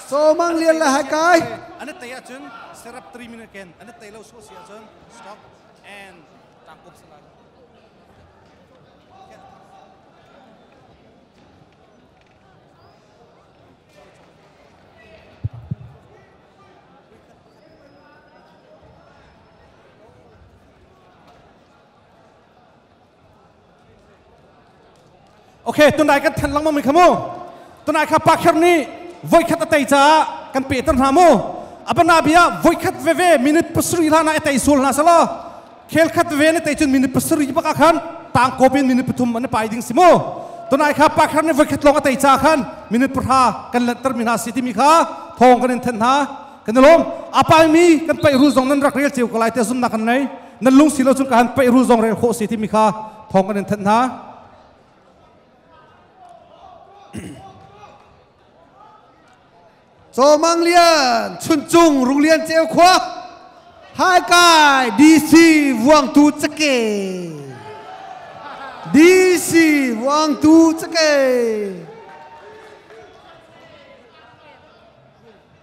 Somang lian le hai kai. An tei ahcun serap 3 minute ken an tei lo so si ahcun stop and tang up salah. Okay, tunai kan than langmang mi kha mu. Tunai kha pa kher nih voi khat a tei caah kan pe ter hna mu. Abana bia voi khat veve minute pasuri la na etei sul na salo. Khel khat veve ne tei chun minute pasuri baka khan tang kopin minute pathum an pai ding simu. Tunai kha pa kher nih voi khat long a tei ca khan minute pahra kan let ter mi na si ti mi kha thong kan in than hna. Kan lom apai mi kan pai ru zong nan rak rel ceu ko lai te sum na kan nei. nan lung si lo cun ka han peih ru zong rel khawh si timi kha thawng kan in thanh hna Chawmang Lian Chuncung Rung Lian Ceu Khua Haikai DC Vuangtu Cake DC Vuangtu Cake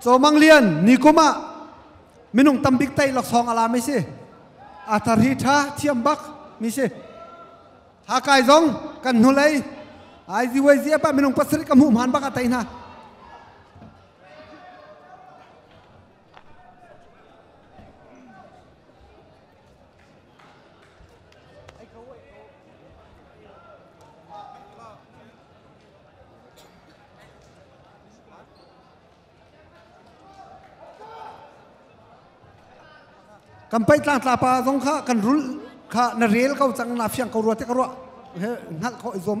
Cawmang Lian nikum ah minung tam bik tei laksawng a la mi si athar hi tha thiam bak mi si hakai zong kan hnulei ai ziwai zi apa minung pasarih ka hmuh mhan bak a tei hna kan paih tlang tlapa zong kha kan rul kha na rel ko cang na fiang ko rua te ka ruah hngalh ko i zuam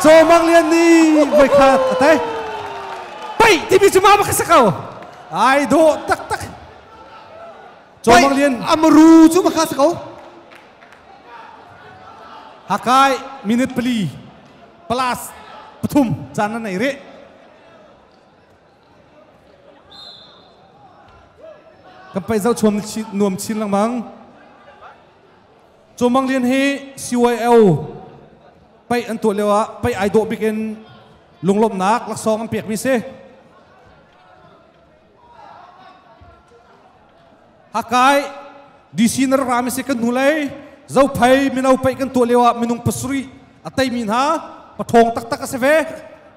Caw Mang Lian nih voi khat a tei. Pai timi cu ma ba ka sak ko. Ai dawh taktak. Caw Mang Lian Amaru cu ma ka sak ko. Hakai minute pali plus pathum caan na nei re. Kan pai zau chuam nuam chin langmang. Caw Mang Lian hi CYO pei an tuah lio ah pei ai dawh bik in lunglawmhnak laksawng an pekmi si. Hakai DC na rak rami si kan hnu lei zophai mino pei kan tuah lio ah minung pasarih a teimi hna pathawng taktak a si ve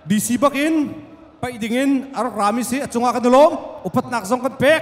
DC bakin pei ding in a rak rami si a cungah kan i lawm upatnak zong kan pek